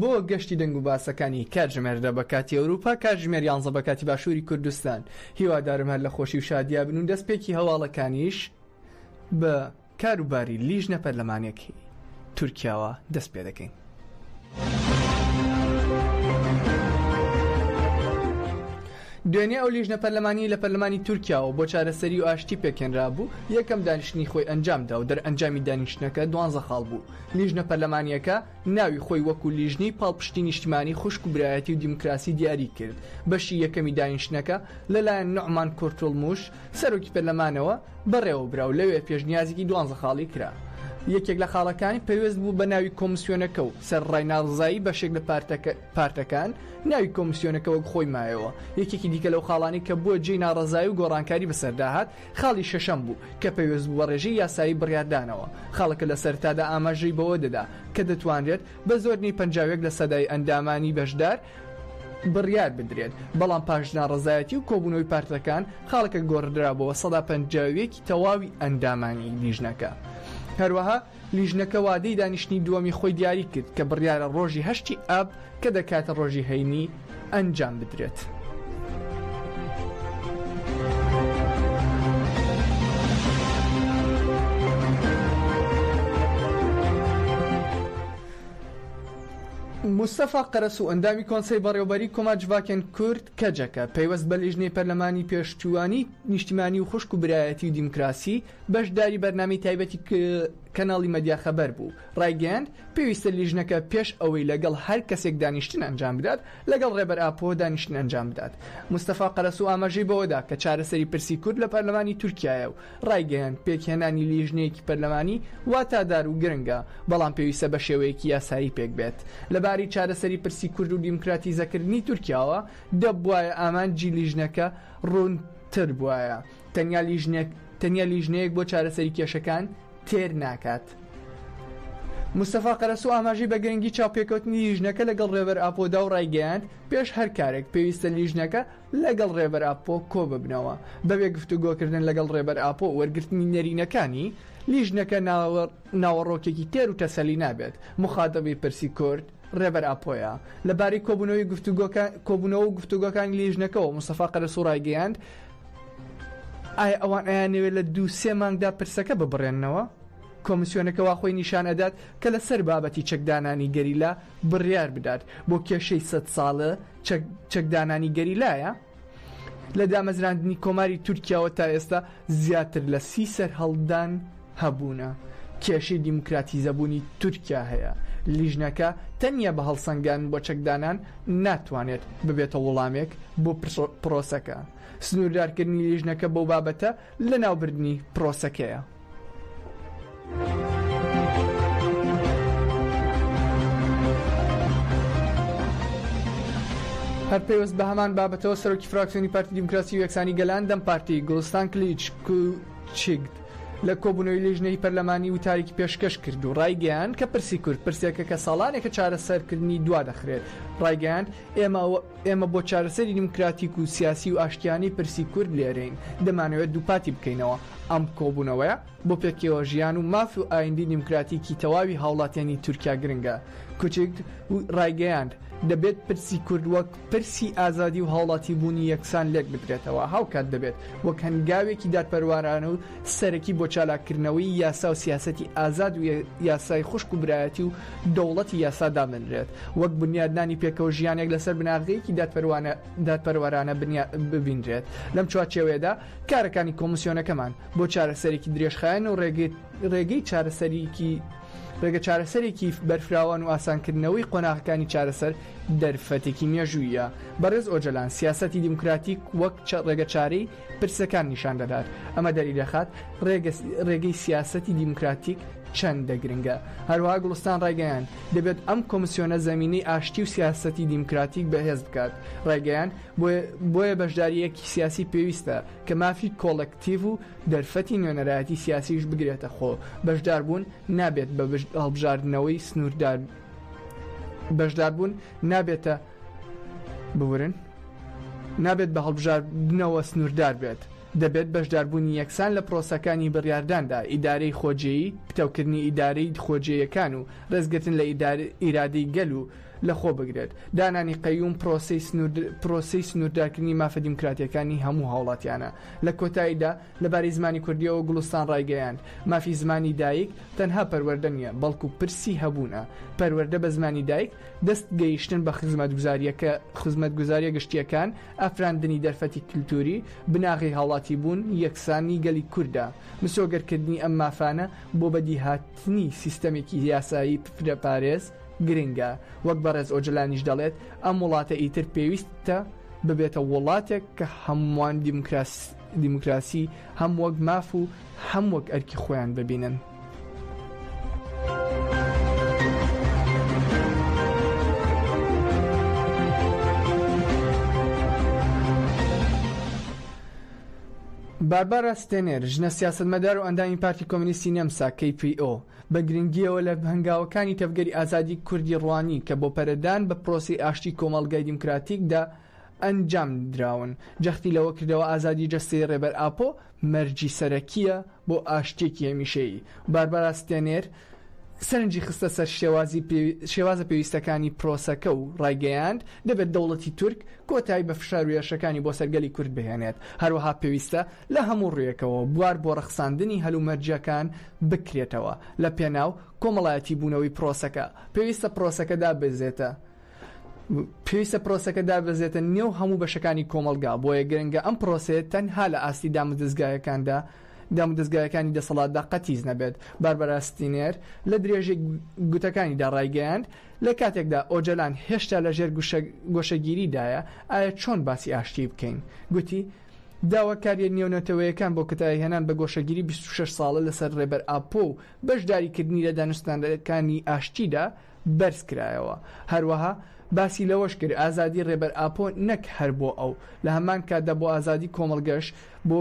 بۆ گەشتی دەنگوباسەکانی کاتژمێردا بە کاتی ئەوروپا کاتژمێر یانزە بە کاتی باشووری کوردستان هیوادارم هەر لە خۆشی و شادیا بن و دەستپێکی هەواڵەکانیش بە کاروباری لیژنە پەرلەمانیەکەی تورکیاوە دەست پێ دەکەین. دوێنێ ئەو لیژنە پەرلەمانی لە پەرلەمانی تورکیاوە بۆ چارەسەری و ئاشتی پێکێنرا بوو یەکەم دانیشتنی خۆی ئەنجامدا و دەرئەنجامی دانیشتنەکە دوانزە خاڵ بوو لیژنە پەرلەمانیەکە ناوی خۆی وەکو لیژنەی پاڵپشتی نیشتمانی خوشک و برایەتی و دیموکراسی دیاری کرد، بەشی یەکەمی دانیشتنەکە لەلایەن نوعمان کورتولموش، سەرۆکی پەرلەمانەوە بەڕێوەبرا و لەوێ پێشنیازێکی دوانزە خاڵی کرا. یەکێک لە خاڵەکانی پەیوەست بوو بە ناوی کۆمسیۆنەکە و سەر ڕاینا ڕزایی بەشێک لە پارتەکان ناوی کۆمسیۆنەکە وەک خۆی مایەوە. یەکێکی دیکە لەو خاڵانەی کە بووە جێی ناڕەزایی و گۆڕانکاری بەسەردا هات، خاڵی شەشەم بوو کە پەیوەست بوو بە ڕێژەی یاسایی بڕیاردانەوە. خاڵەکە لە سەرەتادا ئاماژەی بەوە دەدا کە دەتوانرێت بە زۆر نەی پەنجا و یەک لە سەدای ئەندامانی بەشدار بڕیار بدرێت، بەڵام پاش ناڕەزایەتی و کۆبوونەوەی پارتەکان، خاڵەکە گۆڕدرا بۆ سەدا پەنجا و یەکی تەواوی ئەندامانی لیژنەکە. هەروەها. لیژنەکە وادەی دانیشتنی دووەمی خۆی دیاری کرد کە بڕیارە ڕۆژی هەشتی ئاب کە دەکاتە ڕۆژی هەینی ئەنجام بدرێت. موستەفا قەرەسوو ئەندامی کۆنسەی بەڕێوەبەریی کۆماجڤاکێن کورد کەجەکە پەیوەست بە لیژنەی پەرلەمانی پێشتیوانی نیشتیمانی و خوشک و برایەتی و دیموکراسی بەشداری بەرنامەی تایبەتی کەناڵی مەدیا خەبەر بوو، ڕایگەیاند، پێویستە لیژنەکە پێش ئەوەی لەگەڵ هەر کەسێک دانیشتن ئەنجام بدات، لەگەڵ ڕێبەر ئاپۆ دانیشتن ئەنجام بدات. مستەفا قەرەسوو ئاماژەی بەوەدا کە چارەسەری پرسی کورد لە پەرلەمانی تورکیایە و ڕایگەیاند، پێکهێنانی لیژنەیەکی پەرلەمانی واتادار و گرنگە، بەڵام پێویستە بە شێوەیەکی یاسایی پێکبێت. لە باری چارەسەری پرسی کورد و دیموکراتیزەکردنی تورکیاوە، دەبوایە ئامانجی لیژنەکە ڕوونتر بوایە. تەنیا لیژنەک تەنیا لیژنەیەک بۆ چارەسەری کێشەکان تێر ناکات. مستەفا قەرەسوو ئاماژەی بە گرنگی چاوپێکەوتنی لیژنەکە لەگەڵ رێبەر ئاپۆدا و ڕایگەیاند پێش هەر کارێک پێویستە لیژنەکە لەگەڵ رێبەر ئاپۆ کۆ ببنەوە بەبێ گفتوگۆکردن لەگەڵ رێبەر ئاپۆ و وەرگرتنی نەرینەکانی لیژنەکە ناوەڕۆکێکی تێر و تەسەلی نابێت مخاتەبی پرسی کورد ڕێبەر ئاپۆیە. لە بارەی کۆبوونەوەی گفتوگۆکە کۆبوونەوە و گفتوگۆکانی لیژنەکەوە موستەفا قەرەسوو ڕایگەیاند، ئایا ئەوان ئەیانەوێت لە دوو سێ مانگدا پرسەکە ببڕێننەوە؟ کۆمسیۆنەکە وا خۆی نیشان ئەدات کە لە سەر بابەتی چەکدانانی گەریلا بڕیار بدات، بۆ کێشەی سەد ساڵە چەک چەکدانانی گەریلایە؟ لە دامەزراندنی کۆماری تورکیاوە تا ئێستا زیاتر لە سی سەرهەڵدان هەبوونە، کێشەی دیموکراتیزەبوونی تورکیا هەیە، لیژنەکە تەنیا بە هەڵسەنگاندن بۆ چەکدانان ناتوانێت ببێتە وڵامێک بۆ پرۆسەکە، سنووردارکردنی لیژنەکە بەو بابەتە، لەناوبردنی پرۆسەکەیە. هەر پەیوەست بە هەمان بابەتەوە سەرۆکی فراکسیۆنی پارتی دیموکراسی و یەکسانی گەلان، دەم پارتی، گوڵستان کلیچ کوچیکت لە کۆبوونەوەی لیژنەی پەرلەمانی وتارێکی پێشکەش کرد و ڕایگەیاند کە پرسی کورد پرسێکە کە ساڵانێکە چارەسەرکردنی دوادەخرێت، ڕایگەیاند ئێمە ئێمە بۆ چارەسەری دیموکراتیک و سیاسی و ئاشتیانەی پرسی کورد لێرەین، دەمانەوێت دووپاتی بکەینەوە، ئەم کۆبوونەوەیە بۆ پێکەوەژیان و ماف و ئایندەی دیموکراتیکی تەواوی هاوڵاتیانی تورکیا گرنگە. کوچک ڕایگەیاند، دەبێت پرسی کورد وەک پرسی ئازادی و هاوڵاتیبوونی یەکسان لێکبدرێتەوە، هاوکات دەبێت وەک هەنگاوێکی دادپەروارانە و سەرەکی بۆ چالاککردنەوەی یاسا و سیاسەتی ئازاد و یاسای خوشک و برایەتی و دەوڵەتی یاسا دابنرێت، وەک بنیادنانی پێکەوە ژیانێک لەسەر بناغەیەکی دادپەروانە دادپەروەرانە بنیا ببینرێت. لەم چوارچێوەیەدا کارەکانی کۆمسیۆنەکەمان بۆ چارەسەرێکی درێژخایەن و ڕێگەی ڕێگەی چارەسەریی ڕێگە چارەسەرێکی بەرفراوان و ئاسانکردنەوەی قۆناغەکانی چارەسەر دەرفەتێکی مێژووییە. بەڕێز ئۆجەلان سیاسەتی دیموکراتیک وەک چە ڕێگەچارەی پرسەکان نیشان دەدات، ئەمە دەری دەخات ڕێگەی سیاسەتی دیموکراتیک چەندە گرنگە. هەروەها گوڵستان ڕایگەیاند، دەبێت ئەم کۆمسیۆنە زەمینەی ئاشتی و سیاسەتی دیموکراتیک بەهێز بکات، ڕایگەیاند، بۆیە بەشدارییەکی سیاسی پێویستە کە مافی کۆڵێکتیڤ و دەرفەتی نوێنەرایەتی سیاسیش بگرێتە خۆ، بەشداربوون نابێت بە هەڵبژاردنەوەی سنووردار. ببورن نابێت بە هەڵبژاردنەوە سنووردار بێت دەبێت بەشداربوونی یەکسان لە پرۆسەکانی بڕیارداندا ئیدارەی خۆجێیی پتەوکردنی ئیدارەی خۆجێیەکان و ڕێزگرتن لە ئیرادەی گەل و لەخۆ بگرێت دانانی قەیوم پرۆسەی پرۆسەی سنووردارکردنی مافە دیموکراتیەکانی هەموو هاوڵاتیانە لە کۆتاییدا لەبارەی زمانی کوردیەوە گوڵستان ڕایگەیاند مافی زمانی دایک تەنها پەروەردە نیە بەڵکو پرسی هەبوونە پەروەردە بە زمانی دایک دەست گەیشتن بە خزمەتگوزارییەکە خزمەتگوزارییە گشتییەکان، ئەفراندنی دەرفەتی کلتووری، بناغەی هاوڵاتیبوون، یەکسانی گەلی کوردە. مسۆگەرکردنی ئەم مافانە بۆ بەدیهاتنی سیستەمێکی یاسایی فرەپارێز گرنگە. وەک بەڕێز ئۆجەلانیش دەڵێت، ئەم وڵاتە ئیتر پێویستە ببێتە وڵاتێک کە هەمووان دیموکراسی هەم وەک ماف و هەم وەک ئەرکی خۆیان ببینن. باربارا ستێنێر ژنە سیاستمەدار و ئەندامی پارتی کۆمنیستی نەمسا KPO بە گرنگیەوە لە هەنگاوەکانی تەڤگەری ئازادی کوردی ڕوانی کە بۆ پەرەدان بە پرۆسی ئاشتی کۆمەڵگای دیموکراتیکدا ئەنجامدراون، جەختی لەوە کردەوە ئازادی جەستەی ڕێبەر ئاپۆ مەرجی سەرەکییە بۆ ئاشتییەکی هەمیشەیی. باربارا ستێنێر سەرنجی خستە سەر شێوازە پێویستەکانی پرۆسەکە و ڕایگەیاند، دەبێت دەوڵەتی تورک کۆتایی بە فشار و هێرشەکانی بۆ سەر گەلی کورد بهێنێت، هەروەها پێویستە لە هەموو ڕوویەکەوە بوار بۆ ڕەخساندنی هەلومەرجەکان بکرێتەوە لەپێناو کۆمەڵایەتیبوونەوەی پرۆسەکە، پێویستە پرۆسەکە داببەزێتە پێویستە پرۆسەکە دابەزێتە نێو هەموو بەشەکانی کۆمەڵگا، بۆیە گرنگە ئەم پرۆسەیە تەنها لە ئاستی دامودەزگایەکاندا دامودەزگایەکانی دەسەڵاتدا قەتیس نەبێت. باربارا ستینێر لە درێژەی گوتەکانیدا ڕایگەیاند، لە کاتێکدا ئۆجەلان هێشتا لە ژێر گۆشەگیریدایە، ئایا چۆن باسی ئاشتیی بکەین؟ گوتی، داواکارییە نێونەتەوەیەکان بۆ کتایهێنان بە گۆشەگیری بیست و شەش ساڵە لەسەر ڕێبەر ئاپۆ و بەشداریکردنی لە دانوستاندنەکانی ئاشتیدا، بەرز کرایەوە. هەروەها باسی لەوەش کرد، ئازادی رێبەر ئاپۆ نەک هەر بۆ ئەو، لە هەمان کاتدا بۆ ئازادی کۆمەڵگەش بۆ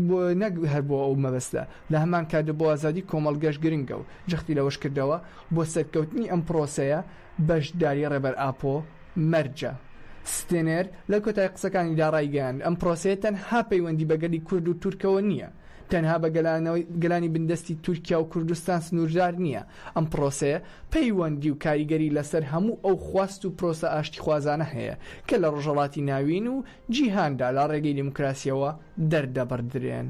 بۆ نەک هەر بۆ ئەو مەبەستە، لە هەمان کاتدا بۆ ئازادی کۆمەڵگەش گرنگە و جەختی لەوەش کردەوە، بۆ سەرکەوتنی ئەم پرۆسەیە بەشداری رێبەر ئاپۆ مەرجە. ستێنەر لە کۆتایی قسەکانیدا رایگەیاند، ئەم پرۆسەیە تەنها پەیوەندی بە گەلی کورد و تورکەوە نییە، تەنها بە گەلانەوەی گەلانی بندەستی تورکیا و کوردستان سنووردار نییە، ئەم پرۆسەیە پەیوەندی و کاریگەری لەسەر هەموو ئەو خواست و پرۆسە ئاشتیخوازانە هەیە کە لە ڕۆژهەڵاتی ناوین و جیهاندا لە ڕێگەی دیموکراسییەوە دەردەبڕدرێن.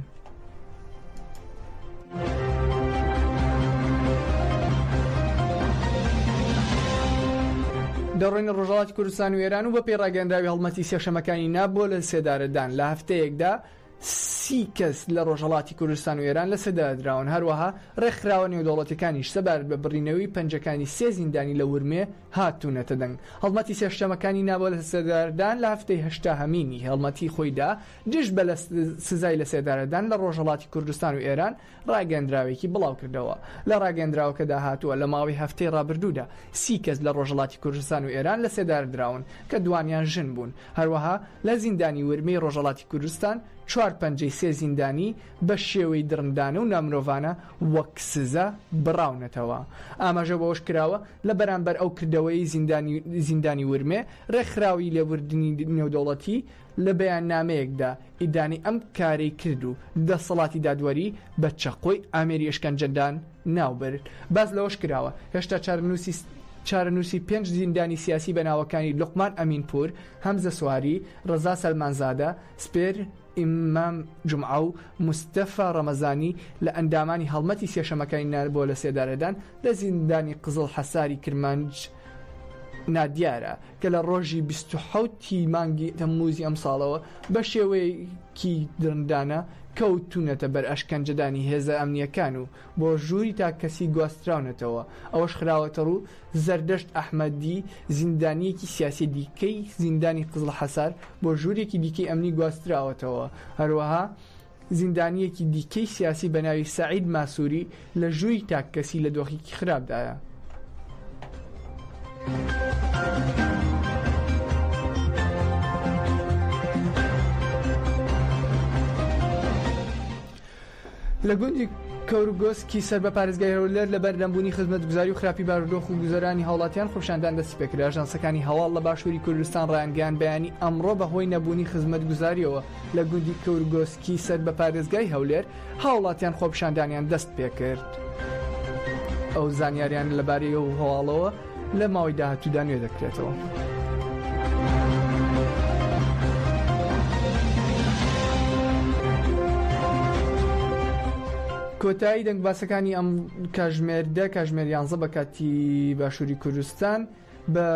دەڕۆینە ڕۆژهەڵاتی کوردستان و ئێران و بەپێی ڕاگەیەنراوی هەڵمەتی سێشەممەکانی نا بۆ لەسێدارەدان لە هەفتەیەکدا، سی کەس لە ڕۆژهەڵاتی کوردستان و ئێران لەسێدارەدراون، هەروەها ڕێکخراوە نێودەوڵەتیەکانیش سەبارەت بە بڕینەوەی پەنجەکانی سێ زیندانی لە ورمێ هاتوونەتە دەنگ. هەڵمەتی سێشتەمەکانی ناڤۆ لەسێدارەدان لە هەفتەی هەشتاهەمینی هەڵمەتی خۆیدا دژ بە سزای لەسێدارەدان لە ڕۆژهەڵاتی کوردستان و ئێران، ڕاگەندراوێکی بڵاوکردەوە. لە ڕاگەندراوەکەدا هاتووە، لە ماوەی هەفتەی ڕابردوودا سی کەس لە ڕۆژهەڵاتی کوردستان و ئێران لەسێدارەدراون، کە دووانیان ژن بوون. هەروەها لە زیندانی ورمێی ڕۆژهەڵاتی کوردستان چوار پەنجەی سێ زیندانی بە شێوەی دڕندانە و نامرۆڤانە وەک سزا بڕاونەتەوە. ئاماژە بەوەش کراوە، لە بەرامبەر ئەو کردەوەیەی زیندانی ورمێ، ڕێکخراوی لێبوردنی نێودەوڵەتی، لە بەیاننامەیەکدا ئیدانەی ئەم کارەی کرد و دەسەڵاتی دادوەری بە چەقۆی ئامێری ئەشکەنجەدان ناوبرد. باس لەوەش کراوە، هێشتا چارەنووسی چارەنووسی پێنج زیندانی سیاسی بە ناوەکانی لوقمان ئەمینپوور، هەمزە سواری، ڕەزا سەلمانزادە، سپێر ئیمام جومعە و مستەفا ڕەمەزانی لە ئەندامانی هەڵمەتی سێشەمەکانی نابۆلەسێدارەدان لە زیندانی قزڵ حەساری کرمانج نادیارە. کە لە ڕۆژی بیست و حەوت ی مانگی تەممووزی ئەمساڵەوە بە شێوەیەکی درندانە کەوتوونەتە بەر ئەشکەنجەدانی هێزە ئەمنییەکان و بۆ ژووری تاک کەسی گواستراونەتەوە ئەوەش خراوەتەڕوو زەردەشت ئەحمەدی زیندانییەکی سیاسی دیکەی زیندانی قزڵحەسار بۆ ژوورێکی دیکەی ئەمنی گواستراوەتەوە هەروەها زیندانییەکی دیکەی سیاسی بە ناوی سەعید ماسووری لە ژووری تاک کەسی لە دۆخێکی خراپدایە. لە گوندی کەورگۆسکی سەر بە پارێزگای هەولێر لەبەر نەبوونی خزمەتگوزاری و خراپی بارودۆخ و گوزەرانی هاوڵاتیان خۆپیشاندان دەستی پێکرد ئاژانسەکانی هەواڵ لە باشووری کوردستان ڕایانگەیاند بەیانی ئەمڕۆ بەهۆی نەبوونی خزمەتگوزاریەوە لە گوندی کورگۆسکی سەر بە پارێزگای هەولێر، هاوڵاتیان خۆپیشاندانیان دەستپێکرد و زانیاریان لەبارەی ئەو هەواڵەوە لە ماوەی داهاتوودا نوێ دەکرێتەوە. کۆتایی دەنگباسەکانی ئەم کاژمێر دە کاژمێر یانزە بە کاتی باشووری کوردستان. بە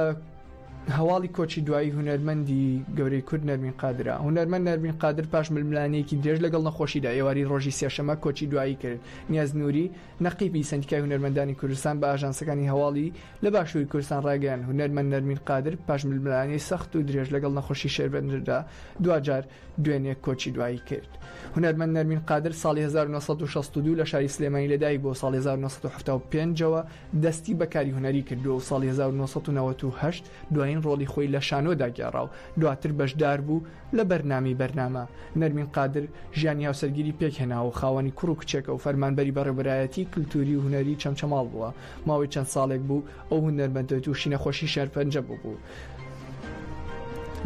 هەواڵی کۆچی دوایی هونەرمەندی گەورەی کورد نەرمین قادرا هونەرمەند نەرمین قادر پاش ململانەیەکی درێژ لەگەڵ نەخۆشیدا ئێواری ڕۆژی سێشەمە کۆچی دوایی کرد نیاز نووری نەقیبی سندیکای هونەرمەندانی کوردستان بە ئاژانسەکانی هەواڵی لە باشووری کوردستان ڕاگەیان هونەرمەند نەرمین قادر پاش ململانەی سەخت و درێژ لەگەڵ نەخۆشی شێربەندردا دواجار دوێنێ کۆچی دوایی کرد. هونەرمەند نەرمین قادر ساڵی هەزار و نۆ سەد و شەست و دوو لە شاری سلێمانی لەدایک بووە و ساڵی هەزار و نۆ سەد و حەفتا و پێنج ەوە دەستی بە کاری هونەری کردووە و ساڵی هەزار و نۆ سەد و نەوەد و هەشت دوایین ڕۆڵی خۆی لە شانۆدا گێڕا و دواتر بەشداربوو لە بەرنامەی بەرنامە. نەرمین قادر ژیانی هاوسەرگیری پێکهێناوە و خاوەنی کوڕ و کچێکە و فەرمانبەری بەڕێوەبەرایەتیی کلتووری و هونەری چەمچەماڵ بووە ماوەی چەند ساڵێک بوو ئەو هونەرمەندە تووشی نەخۆشی شێرپەنجە ببوو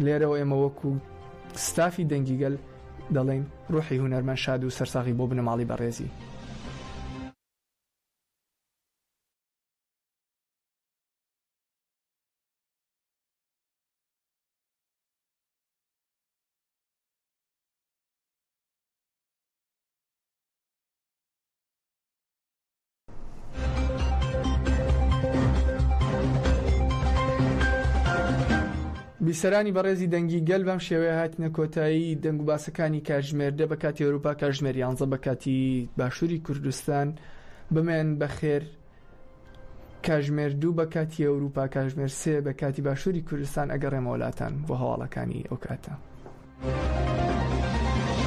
لێرەوە ئێمە وەکو ستافی دەنگی گەل دەڵێین ڕوحی هونەرمەند شاد و سەرساغی بۆ بنەماڵەی بەڕێزی. بیسەرانی بەڕێزی دەنگی گەل بەم شێوەیە هاتینە کۆتایی دەنگ و باسەکانی کاژمێر دە بە کاتی ئەوروپا کاژمێر یانزە بە کاتی باشووری کوردستان بمێن بەخێر کاژمێر دوو بە کاتی ئەوروپا کاژمێر سێ بە کاتی باشووری کوردستان ئەگەڕێمەوەلاتان بۆ هەواڵەکانی ئەو کاتە.